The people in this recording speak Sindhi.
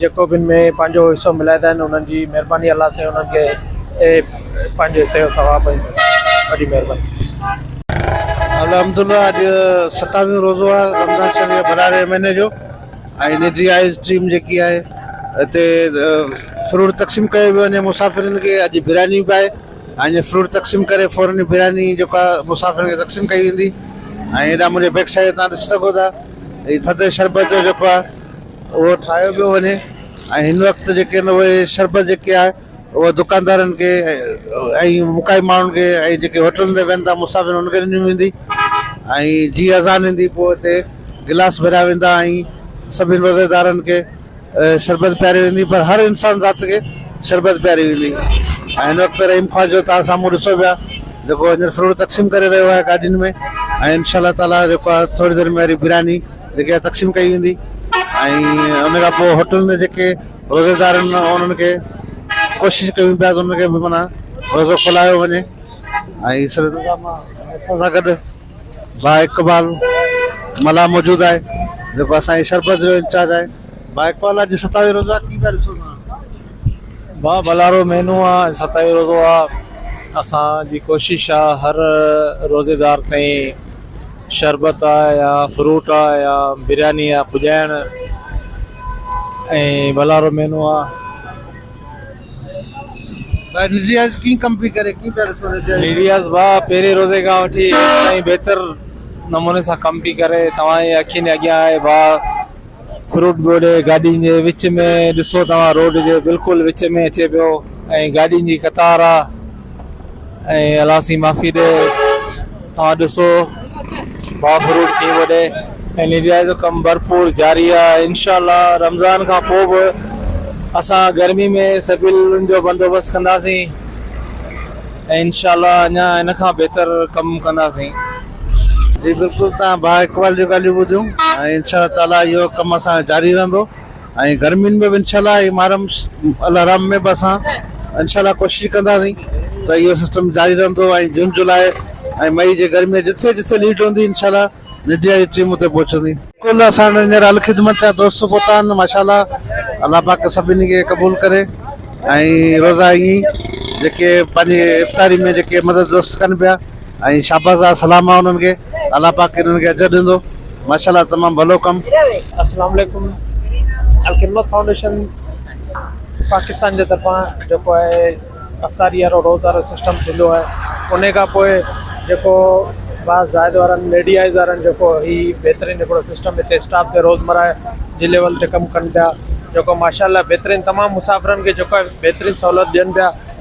جيڪو به ان ۾ پنهنجو حصو ملائيندا آهن انهن جي مهرباني الله سائين انهن کي پنهنجو حصي جو ثواب ۽ وڏي مهرباني. الحمدالله اڄ ستاويهون روزو آهي رمضان شريف جي ڀراري مهيني جو ۽ نجي آئس ٽيم جيڪي آهي اتي فروٽ تقسيم ڪيو ويو وڃي مسافرن کي اڄ برياني به آهي ۽ فروٽ تقسيم ڪري فورن ئي برياني جيڪا مسافرن کي تقسيم ڪئي ويندي ۽ هيڏانهن منهنجي بيڪ سائيڊ تان ڏسي سگهو ٿا هي ٿڌي شربت جو جيڪو آهي اهو ٺاهيو پيو وڃي ۽ هن وقت جيڪي آهن اهي شربت جيڪي آهي اهي دڪاندارن کي ۽ مکائي ماڻهن کي ۽ جيڪي هوٽلن تي ويهن ٿا مسافر انهن کي ڏني ويندي ۽ جي اذان ايندي پوء اتي گلاس ڀريا ويندا ۽ سڀني روزيدارن کي شربت پياري ويندي پر هر انسان ذات کي شربت پياري ويندي ۽ هن وقت رحيم خواجو تان سامهون ڏسو پيا جيڪو هينئر فروٽ تقسيم ڪري رهيو آهي گاڏين ۾ ۽ انشاء الله تعاليٰ جيڪو آهي ٿوري دير ۾ وري برياني جيڪي تقسيم ڪئي ويندي ۽ ان کان پوء هوٽلن جا جيڪي روزيدار آهن انهن کي ڪوشش ڪيون پيا ته انهن کي به معنيٰ روزو کلايو وڃي ۽ سر اسان سان گڏ با اقبال ملاح موجود آهي جيڪو اسان جي شربت جو انچارج آهي با اقبال اڄ ستاوي روزو آهي ڪي پيا ڏسو توهان با ڀلارو مهينو آهي اڄ ستاوي روزو آهي اسان جي ڪوشش آهي هر روزيدار تائين شربت آ يا فروٽ آ يا برياني آ پڄائڻ ۽ ڀلارو مينو آ. ڀاء نيڙياز ڪيئن ڪم پئي ڪري ڪيئن پيا ڏسو نيڙياز. نيڙياز ڀاء پهرين روزي کان وٺي هينئر تائين بهتر نموني سان ڪم پئي ڪري توهان جي اکين جي اڳيان آهي ڀاء. فروٽ ڳوڙهي گاڏين جي وچ ۾ ڏسو توهان روڊ جي بلڪل وچ ۾ اچي پيو ۽ گاڏين جي قطار آ ۽ الله سين معافي ڏي توهان ڏسو با فروٽ ٿي وڏي ۽ نيڊيا جو ڪم ڀرپور جاري آ انشاءالله رمضان کان پوء به اسان گرمي ۾ سبيلن جو بندوبست ڪنداسين ۽ انشاءالله اڃا ان کان بهتر ڪم ڪنداسين جي بلڪل توهان ڀاء اقبال جون ڳالهيون ٻڌيون ۽ انشاء الله تعالي اهو ڪم اسان جو جاري رهندو ۽ گرمين ۾ به انشاء الله هي محرم الحرام ۾ به اسان انشاء الله ڪوشش ڪنداسين ته اهو سسٽم جاري رهندو ۽ جون جولاء ۽ مئي جي گرمي جتي جتي نيڊ هوندي انشاء الله ميڊيا جي ٽيم اتي پهچندي بلڪل اسان وٽ هينئر الخدمت جا دوست پهتا آهن ماشاء الله الله پاڪ سڀني کي قبول ڪري ۽ روزا ائين جيڪي پنهنجي افطاري ۾ جيڪي مدد دوست ڪن پيا ۽ شاباس آ سلام آ انهن کي الله پاڪ انهن کي اجر ڏيندو ماشاءالله تمام ڀلو ڪم. اسلام عليڪم الخدمت فائونڊيشن پاڪستان جي طرفان جيڪو آهي افطاري وارو روز وارو سسٽم ٿيندو آهي انهي کان پوء جيڪو با زائد وارن ميڊيائز وارن جيڪو هي بهترين هڪڙو سسٽم هتي اسٽاف تي روز مراهي جي ليول تي ڪم ڪن پيا جيڪو ماشاء الله بهترين تمام مسافرن کي جيڪو آهي بهترين سهولت ڏين پيا